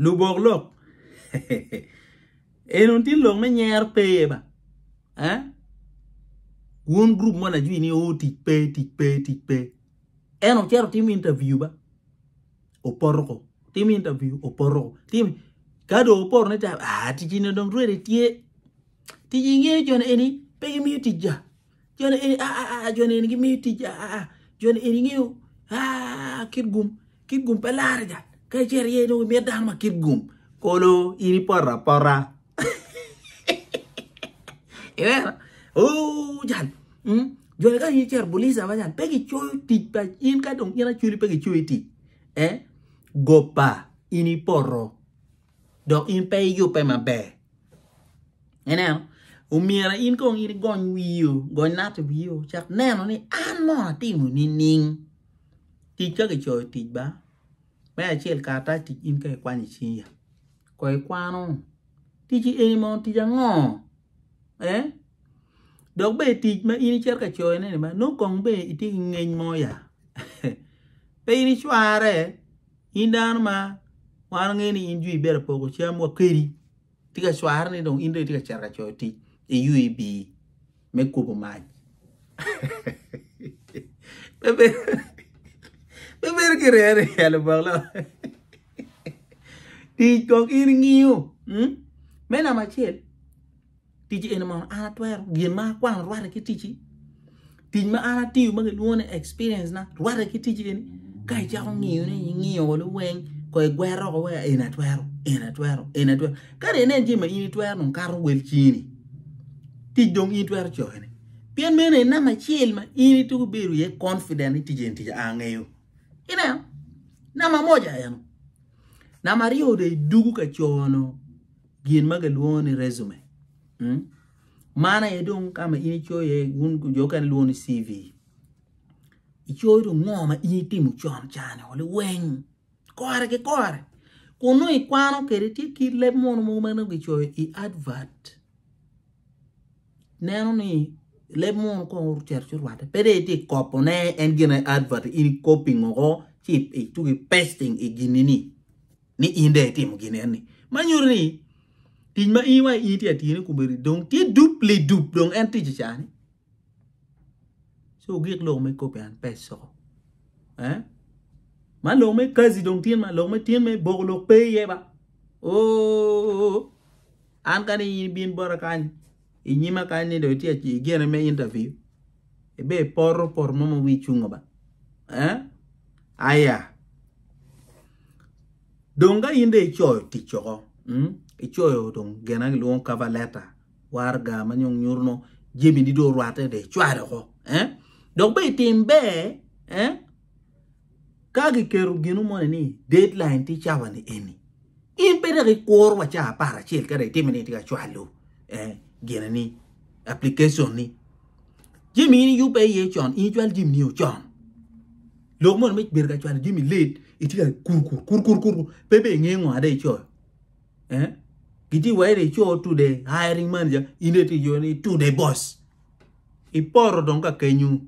Lubok lok eno tye lok me nyer pe iye ba eh wun group mo lajwi ni o tic pe tic pe tic pe en ocito timo interview ba opoto ko timo interview opoto ko timo ka do opoto ne ta ah ticine dong ready tye tic ingeyo joni eni pe gimiyo tic ja Joni eni a a a joni eni gimiyo tic a a a joni eni ngeyo a kit gum kit gum pe larga ka icero iye dong imit dano ma kit gum kolo in ipoto apota iwera o jal mm, joni ka in icero bulica ma jal pe gicoyo tic pa in ka dong in aculi pe gicoyi tic eh gopa in ipoto dok in pe iyubbe maber. Ineno? Omyero in kong in igony wiyo, gony nati wiyo, cak neno ni an mo atimo nining? Tic ka kicoyo tic ba, me acel karatac tic in ka ikwanyo i cingi ya. Kong ikwano, tic eni mo tic ango? Eh? Dok be tic ma in icito ka coyone ni ba, nongo kong be itye ki ngeny mo ya. pe in icware. in dano ma wan wangeyo ni in jwi ibedo poko cam wa kedi tye ka cware ni dong in dong itye ka cito ka coyo tic iywb me kubo mac pe bedo ki rere i elo bok lo tic kong in ingiyo me namba acel Tic eni mono an atwero, gin ma akwano rwate ki ticci. Tic ma an atiyo ma gilwongo ni experience na rwate ki ticci eni. Ka icako ngiyo ni ingiyo wa luweng ko igwero oko wa eni atwero, eni atwero, eni atwero. Ka de inen jami ma in itwero dong kato wel cini. Tic dong in itwero coke ni. Pien meno en nama acel ma in ituko bedo ye confident ni tic en tic angeyo. Ineno? Nama moja eno. Nama aryo de idugu ka cono. gin ma kilwongo ni resume. Mm? Man aye dong ka ma in icoyo iye wun jo mukene lwongo ni CV. Icoyo dong ngo ma in itimo con can o liweng kore ki kore kun nongo ikwano kwede tye kit leb mono mogo ma nongo kicoyo i advert. Neno ni leb mono kong ocito ci orwatte pe dong itye ka kopone en gin aye advert in ikopi ngo ci ituki pasting i ginni ni. ni in dong itimo gin eni. Man nyuto ni tic ma in wa in itye ka tiyone kome-ni dong tye dub lidub dong en ticce ca-ni. Ci ogik lok me kopi an pe icoko. Eh? Man lok me kazi dong tin man lok me tin me boko lok pe iye ba. Oh! An kani in bin bota kany inyima kany ni dong itye igene me interview. Ibe ipoto poto mo ma wii cungo ba. Eh? Aya. Dong ka in de icoyo tic oko, mm? icoyo dong gena gilwongo cover letter, warga ma nyong nyuto no jebini do orwate de icwalo oko. Eh? Dok be itim ber, eh? Ka giketo gino moni ni deadline tye cawa ni eni, in pe dok ikuro wa cawa apar acel ka dong itimi ni itye ka cwalo eh, gine ni application ni. Jami in iyubbe iye con, in icwal jami ni ocon. Lok moni me bedo ka cwalo jami late, itye ka kur kur kur kur kur, kur. pe be inge ngo ada icoyo. Eh? Giti wa ire icoyo to the hiring manager, in iti jo ni to the boss. Iporo dong ka kenyu.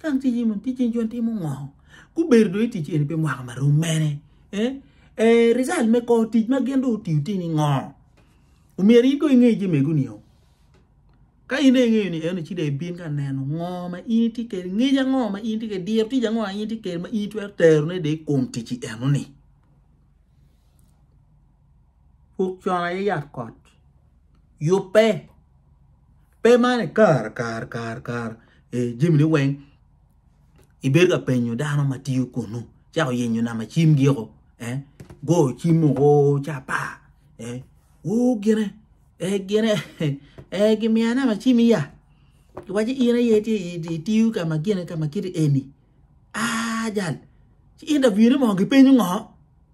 Kany ci Cimon ticce nico timo ngo? Gubedo dong i tic eni pi mwaka ma rom mene? Eh, result me kor tic ma gin dong otiyo tye ni ngo? Omyero in dong inge jemego nio. Ka in dong ingeyo ni eno ci dong ibin ka neno ngo ma in itye kede, ngec ango ma in itye kede, diro tic ango ma in itye kede ma in itwero terone dong i kom ticci eno ni. pud con aye yat kot yubbe pe mani kare kare kare kare jami ne weng ibedo ka penyo dano ma tiyo kunu cek oyenyo nama cim giko eh goyo cim oo oo ca apa eh woo gine eh gine eh gimiya nama cim iya iwaci in aye itiyo ka ma gine ka ma kiti eni aa jal ci interview ne moo gipenyo ngo.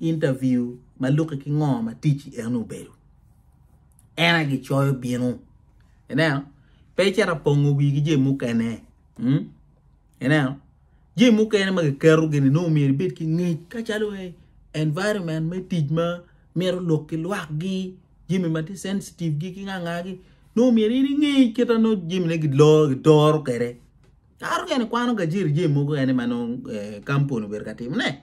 Interview ma luki ki ngo ma ticci en obedo. En aye gi coyo binu. Ineno? Pe icita pongo wii ki jee mukene. Hmm? Ineno? Jee mukene ma kiketo gini nongo myero ibed ki ngec ka calo eh, environment me tic ma mito lok ki lwak gi, jemi ma ti sensitive gi ki nga nga gi. Nongo myero in ingec kita no jemi ne gi lor gi doro kere. Karo kene ikwano gajiri jemi mukene ma nongo eh, kampuni obedo ka timo ne.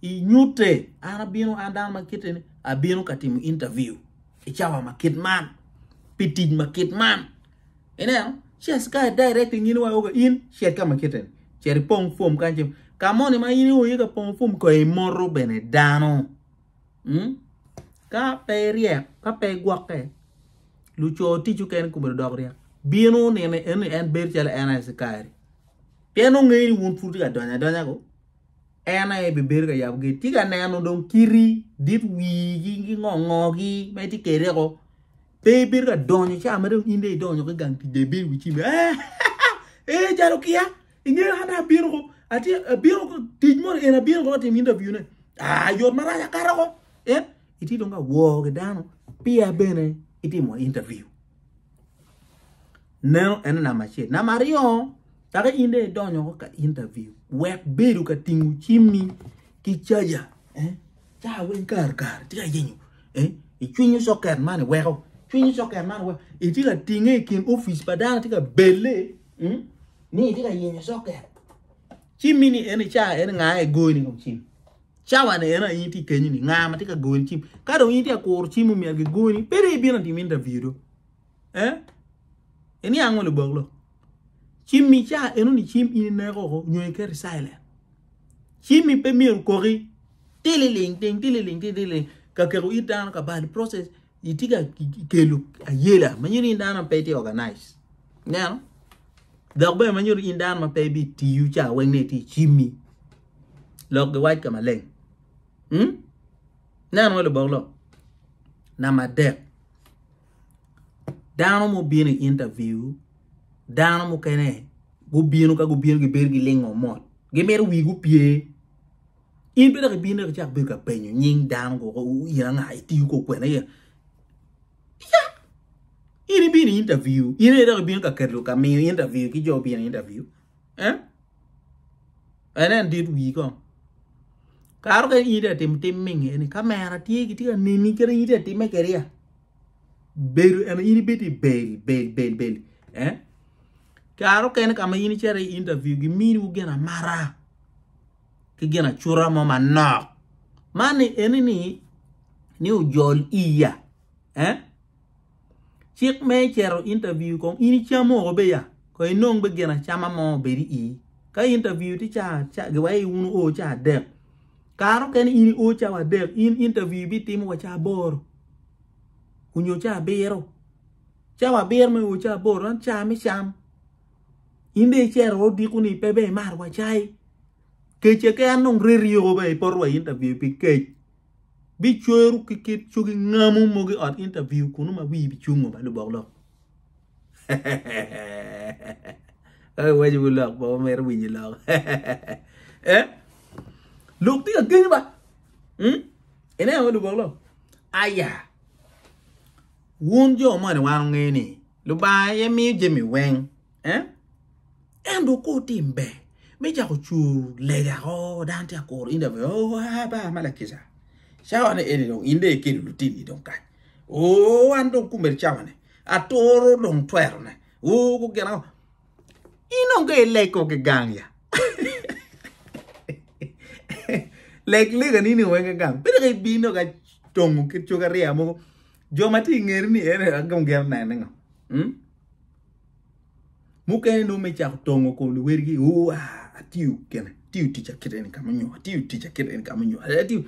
I nyute, an abino, an dano ma kite ni, abino ka timo interview i cawa ma kit man, pi tic ma kit man. Ineno, ci askari e direct ngini wa oga in cet ka ma kite ni, cet ipong form kan cem. Ka moni ma in iye ka pongo form ko imoto bene dano. Mm? Ka pe iryek, ka pe igwokke, luco tic ukene kumedo dok ryek. Bino nene en en bedo calo en askari. Pien ongeyo ni wun pud ka donya donya ko. en aye ebibedo ka yabo gate. Tye ka neno dong kiti dit wigi ki ngo ngogi ma itye kede ko. Pe ibedo ka donyo ca ma dong in de idonyo ki gang tic de ibedo wi cim. Eh, eh, jalo kia. Ingeyo an de abino ko. Ati abino ko tic mo en abino ko tim interview ne. Ah, yot marac akato ko. Eh, itye dong ka woo ki dano. Pia bene itimo interview. Neno en namba acel. Namba aryo, Kaka in dong idonyo woko ka interview, wek bedo ka tingo cimmi ki caja, eh, ca weng kare kare tye ka yenyo, eh, icwinyo soket man iweko, cwinyo soket man iweko, itye ka tinge i kin ofice pa dano tye ka belle, mm, ni itye ka yenyo soket. Cimmi ni eni ca eni nga i goyoni i kom cim? Cawa ni eni in tye i kenyo ni nga ma tye ka goyoni cim? Ka dong in tye ka kuro cim omyero gigoni, pe dong ibino timo interview do. eh iniang ngo lubok lo cim mi ca eno ni cim ini neko ko nyo ikeri silent cim mi pe miru koki tililing ting tililing ting tililing ka keko it dano ka bal process iti ka kelo ayela ma nyuto in dano pe ti organize neno dok bene ma nyuto in dano ma pe bi tiyu ca weng ne ti cim mi lok gi wac ka maleng hmm? neno ngo lubok lo nama dek dano ma obino i interview dano mukene gubino ka gubino gibedo gilingo mot gimito wigi opye in bene dok ibino dok icak bedo ka penyo nying dano woko in anga itiyo kong kwene iya in ibino i interview in aye dok ibino ka keto ka miyo interview ki jo ma obino i interview. eh enen dit wii kong kare mukene in itye ka timo tim minge ni kamera tye gitye ka neni kadi in itye ka time kedi ya bedo eni in ibed i bel bel bel bel eh kare mukene ka ma in icito i interview giminiwu gin amata ki gin acuta mo manok man eni ni ni ojol iya eh Cik me cito interview kong in icamo woko be ya kong inong be gin acama mo obed i ii. Ka interview tye ca ca giwayo ni wun wuo ca adek. Kare okene in iwo cawa adek in interview ibitimo wa ca aboro onyo ca abiro. Cawa abiro ma iwo ca aboro en ca me cam. In dong icero wa odiko ni pe be imar wa cai. Kec keken dong reri yoko be ipoto wa i interview pi kec. bicweru ki kit cogi ngamo mogo i ot intaviu kunu ma wii bicungo ba lubok lok. Ka iwaco wi lok ba wamito winyo lok. Eh? Lok tye ka genyo ba. Hmm? Ineno wa lubok lok. Aya. Wun jo moni wan ongeyo ni Lubanga aye miyo jami weng. eh? Ento ko tim ber me jako cur lega ko dano tye akoro in dawe oh aba ma lakica cawane eni dong in de ikelo lutini dong kany oh an dong kumel cawane atoro dong twerone oh gugin ango in onge ileg ko ki gang ya leg lega ni ni wenge gang pede ka ibino ka tongo ki coga riya mogo jo ma ti ingeri ni ene agam gero nene ngo hmm? Mukene nongo me cako tongo kom luwedigi, uwa, atiyo kene, atiyo tica kite ni kama onyo, atiyo tica kite ni kama onyo, atiyo.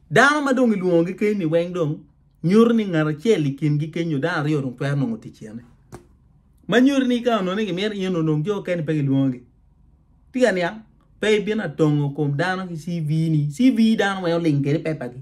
Dano ma dong ilwongogi keny ni weng dong, nyuto ni ngat acel i kingi keny nyo dano aryo dong twero nongo tic yene. Ma nyuto ni ka onone gimito in onong jo keni pe gilwongogi. Ti ka niang, pe ibino atongo kom dano ki CV ni, CV dano weng oling kede pepagi.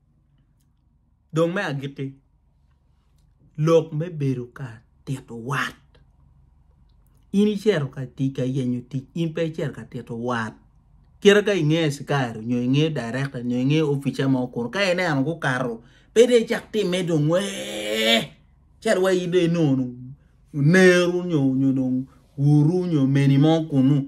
Dong me agikki, lok me bedo ka tito wat. In icito ka tic ka yenyo tic in pe icito ka tito wat kite ka inge cikari nyo inge directa nyo inge opica mo kunu ka ineno gukato pe dong icak time dong wee calo wa in dong inongo oneru nyo dong wuru nyo omeni mo kunu.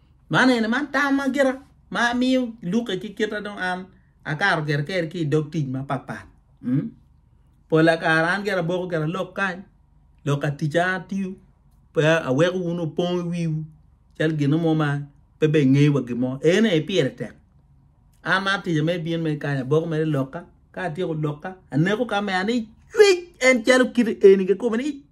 Man eni man tam ma gira ma amiyo luke ki kita dong an akato gire keri ki idog tic mapat pat mm pola kare an gire aboko gire lok kany lok atica atiyo pe aweko wun opong i wiwu cal gino mo ma pe be inge wa gimo ene aye pire tek an ma atica me bin me kany aboko mere lokka ka atyeko lokka aneko ka me an icwec en calo kite eni kikome ni icwec